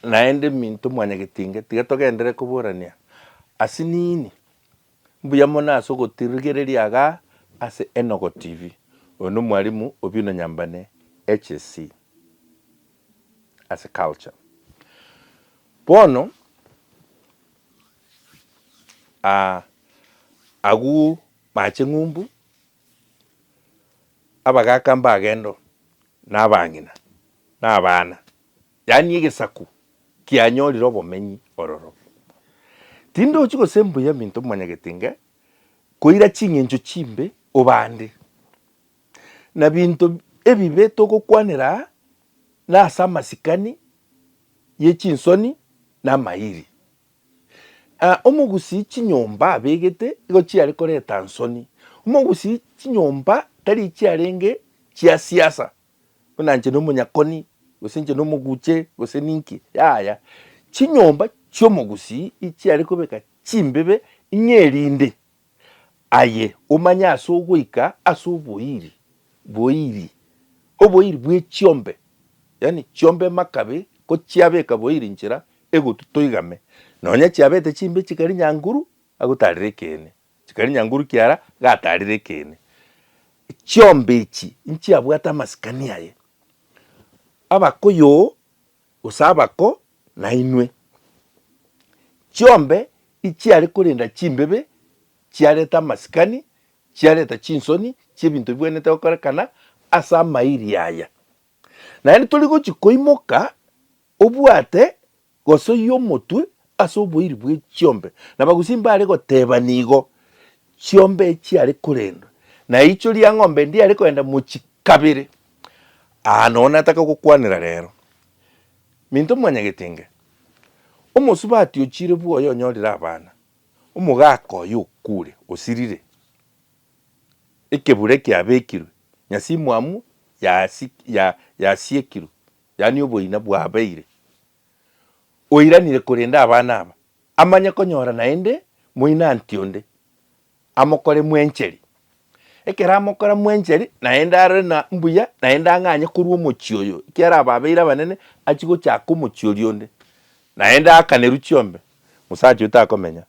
Naende minto mwanyagetinge, tiga togendere koborania ase nini. Mbuya mono ase ogotirigereria iga ase Enogo TV. Oyo nomwalimu Obino Nyambane, HSC, ase culture. Bono ah agwo mache ng'umbu, abagaka mbagenda oo, nabang'ina, nabana. yaani egesaku kianyorire obomenyi ororo. Tindochi gose mbuya minto mwanyagetenge koira ching'encho chimbe obande, na binto ebibe togokwanera aa nase amasikani ye chinsoni na amairi. Aa omogusii chinyomba abegete igo chiare koreta nsoni, omogusii chinyomba tari chiarenge chia siasa buna inche nomonyakoni, gose inche nomoguche, gose ninki, yaya. Chinyomba chi'omogusii ichiare kobeka chimbibe ng'a erinde aye omanye ase ogoika ase oboiri, boiri, oboiri bw'echiombe, yaani chiombe makabe kochiabeka boiri inchera egotu toigame. Nonya chiabete chimbe chikari nyanguru, agotare ekeene. Chikari nyanguru kiara gatarire ekeene. Chiombe echi nchiabwate amasikani aye, abakoyo gose abako nainwe. Chiombe ichiare korenda chimbebe chiareta amasikani, chiareta chinsoni chiebinto bibwenerete gokorekana ase amairi aya. Naende tori gochi koimoka obwate. Gosoyia omotwe ase oboiri bwe chiombe, na bagusi mbare goteba nigo chiombe echiare korendwa, na eicho ria ng'ombe ndiare kogenda mochi kabere. Aa nonya nataka gokwanera rero, minto mwanyagetenge, omosubati ochire bwoye onyorire abana, omogaka oye okure, osirire, ekebure kiabekirwe, nyasimuamu yasiekirwe. yaani oboina bwabeire, oiranire korenda abana aba, amanye konyora naende moinanti onde, amokore mwencheri. Ekero amokora mwencheri, naende arore na mbuya, naende ang'anye korwa omochie oyo, ekiara ababeire abanene, achie gochaka omochie oria onde, naende aakanerwe chiombe, mosacha oyo takomenya.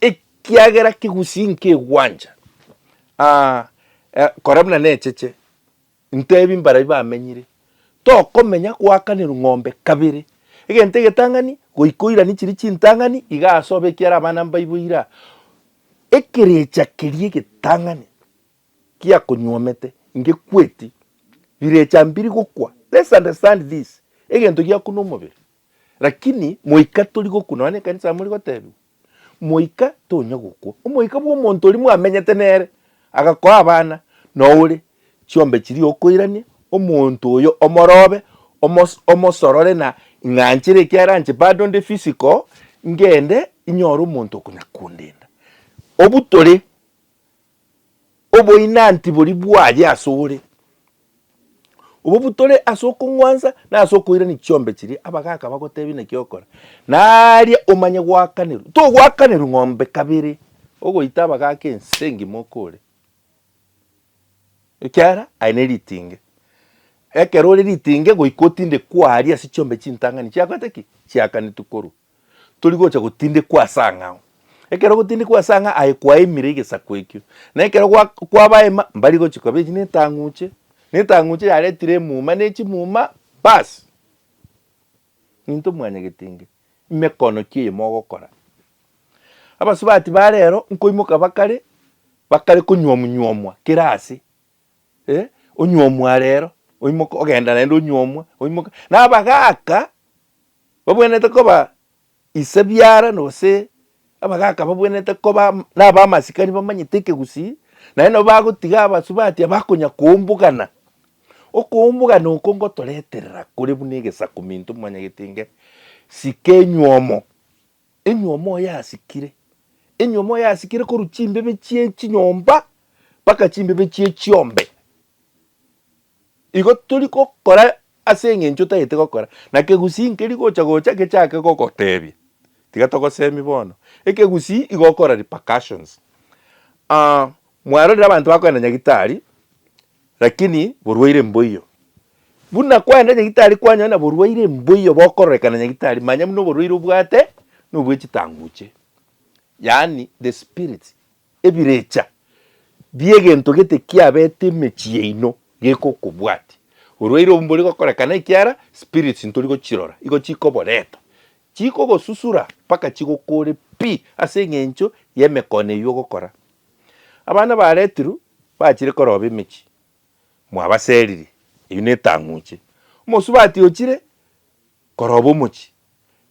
ekiagera kegusii nkegwancha, ah, eh, kora buna necheche, ntebi mbarai bamenyire, tokomenya goakanerwa ng'ombe kabere, egento egetang'ani goika oirani chiria chintang'ani iga ase obe ekiara abana mbaibo ira, ekerecha keria egetang'ani giakonyuomete ngekweti, rirecha mbiri gokwa, let's understand this, egento giaku nomobere. Lakini moika tori gokwa, nonya nekanisa amo rigotebiwa, moika tonya gokwa, omoika bw'omonto oria mwamenyete nere, agakoa abana, na ore chiombe chiria okoirania, omonto oyo omorobe, omos omosorore na ing'anchire ekio aranche bado nde physical, ngende inyore omonto okonya kondenda. Obutore Oboinanti boria bwaye ase ore, obwo butore ase okong'wansa na ase okoirania chiombe chiria abagaaka bagotebia naki okore, na aria omanye goakanerwa. Togoakanerwa ng'ombe kabere ogoita abagaaka ense engima okore, ekiagera aye ne ritinge. Ekero ore ritinge goika otinde kwaaria ase chiombe chintang'ani chiakorete ki? Chiakanetwe korwa tori gocha gotindekwa ase ang'e ao. Ekero gotindekwa ase ang'e aye kwaimire egesaku ekio, na ekero gwa kwabaima mbari gochia koba echi ne etang'uche, ne etang'uche yaretire emuma ne chimuma baas. Intwe mwanyagete inga ime kono ki eye mogokora? Abasubati ba rero nkoimoka bakare, bakare konywomu nywomwa kera ase eh, onywomwa rero oimoke ogenda naende onywomwa oimoke. Na abagaka Babwenerete koba ise biara, gose abagaaka babwenerete koba nabamasikani bamanyete ekegusii, naende nabo bagotiga abasubati abakonya koumbugana. Okoumbugana oko ngotoreterera kore buna egesaku minto mwanyagete inge, Sika enywomo, enywomo oyasikire, enywomo oyasikire korwa chimbebe chie chinyomba mpaka chimbebe chie chiombe. Igo tori gokora ase engencho tagete gokora, na kegusii nkeri gocha gocha gechake gogotebia, tiga togosemi bono, ekegusii igokora repercussions. Aah mwarorire abanto bakoenda nyagitari lakini borwaire mboiyo, buna kwaenda nyagitari kwanyora borwaire mboiyo bokororekana nyagitari manya buna oborwaire obwate nobwe chitanguche, yaani the spirits. Ebirecha bi'egento gete kiabete emechie yaino gekokobwati. Orwaire obo mbori gokorekana ekiara spirits ntori gochirora igo chikoboreta. Chikogosusura mpaka chigokoore pi ase eng'encho y'emekone eyio ogokora. Abana baretirwe bachire koroba emechie, mwabaseririe, eyio netang'uche. Omosubati ochire koroba omochie,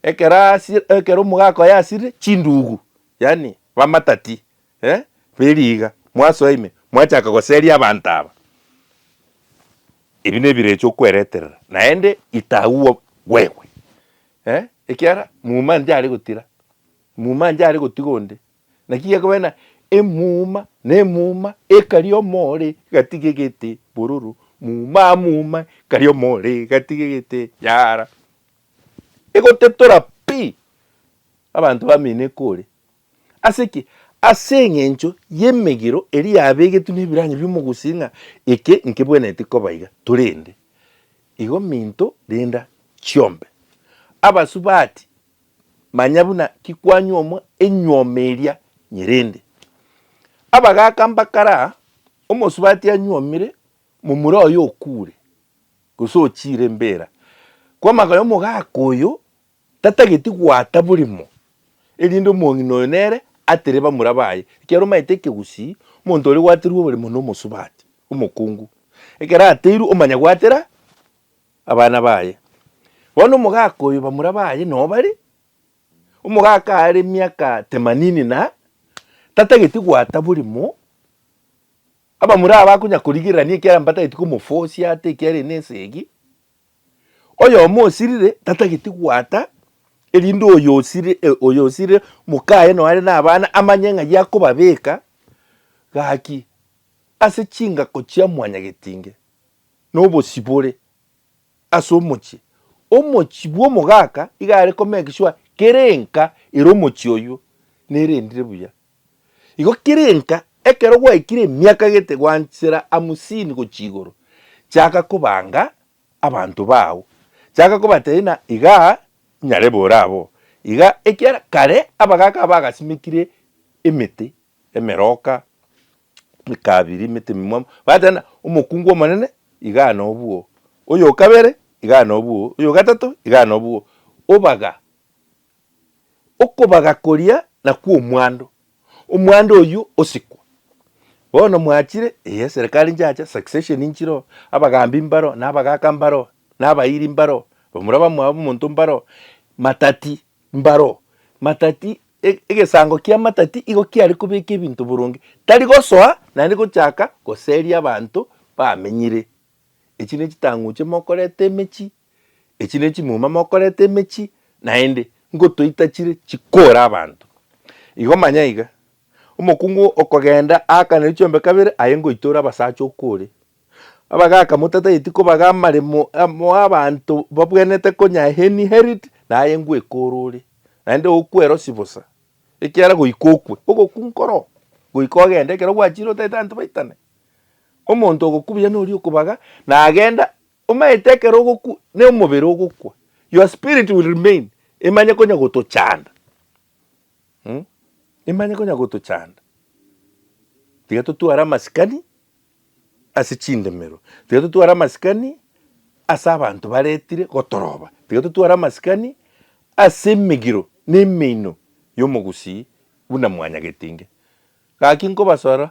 Ekero asi- ekero mogakoya asire chindugu, yaani bamatati, eh, beriga, mwasoa ime, mwachaka goseria abanto aba, ebi nebire eche okwereterera, naende itagwo gwegwe, eh, ekiara muma njare gotira, muma njare gotiga onde, naki gekobera ng'a emuma na emuma ekari omore gatiga egete bororo, muma muma ekari omore gatiga egete yara. Egotetora pi abanto bamene kore. Ase ki? Ase eng'encho y'emegiro eria yabegetwe n'ebirang'ario omogusii ng'a eke nkebwenereti koba iga, torende igo minto renda chiombe. Abasubati, manya buna kikwanyuomwa enyuoma eria nyerende. Abagaaka mbakara, omosubati anyuomire momura oye okuure. gose ochiire embeera, kw'amaka y'omogaka oyo tatageti goata borimo, erinde omong'ina oyo nere atere bamura baye, ekiagera omanyete ekegusii omonto oria ogwaterwe oborimo nomosubati, omokungu, ekero ateirwe omanya goatera abana baye. Bono omogaka oyo bamura baye noo bare, omogaka aare emiaka temanini na tatageti goata borimo, Abamura abakonya korigererania ekiagera mbatageti komofosia ata ekiagera ene esegi. Oyomo osirire tatageti gwata erinde oyo osiri e oyo osirire mokaye noyo are nabana amanye ng'ai akobabeka gaki ase chingako chia mwanyagetinge nobosibore ase omochie. Omochie bwa omogaka iga are komake sure kera enka ere omochie oywo nerendire buya. Igo kirinka ekero gwaikire emiaka gete gwanchera hamusini gochia igoro, chaka kobanga abanto bao, chaka kobatebia ng'a iga inyare bore abo, iga ekiagera kare abagaaka aba bagasimekire emete emeroka, emekabiri, emete ememwamu, bagateba ng'a omokungu omonene igaa nobwo, oyo okabere igaa nobwo, oyo ogatato igaa nobwo, obaga. Okobaga koria nakwo omwando, omwando oyio osikwa. Bono mwachire, ee eserekari nchacha, succession nchiroo, abagambi mbaroo, na abagaka mbaroo, na abairi mbaroo, bamura bamwabo omonto mbaroo, matati mbaroo, matati egesango kia matati igo kiare kobeka ebinto boronge, tari gosoa naende gochaka goseria abanto bamenyire. Echi ne chitang'uche mokoreta emechie. Echi ne chimuma mokoreta emechie, naende ngotoita chire chikore abanto. Igo manya iga, omokungu okogenda aakanire chiombe kabere, aye ngoitora abasacha okore. Abagaka motatageti kobaga amaremo amo abanto babwenerete konya inherit, naye ngwekore ore, naende okwera osibosa, ekiagera goika okwe, ogokungu koroo, goika ogende ekero gwachire otaete abanto baitane. Omonto ogokubia noria okobaga, nagenda. Omanyete ekero ogokwa, ne omobere ogokwa, your spirit will remain, emanye konya gotochanda um emanye konya gotochanda. Tiga totware amasikani ase chindemero, tiga totware amasikani ase abanto baretire gotoroba, tiga totware amasikani ase emegiro na emeino ya omogusii buna mwanyagetinge. Gaki nkobasora,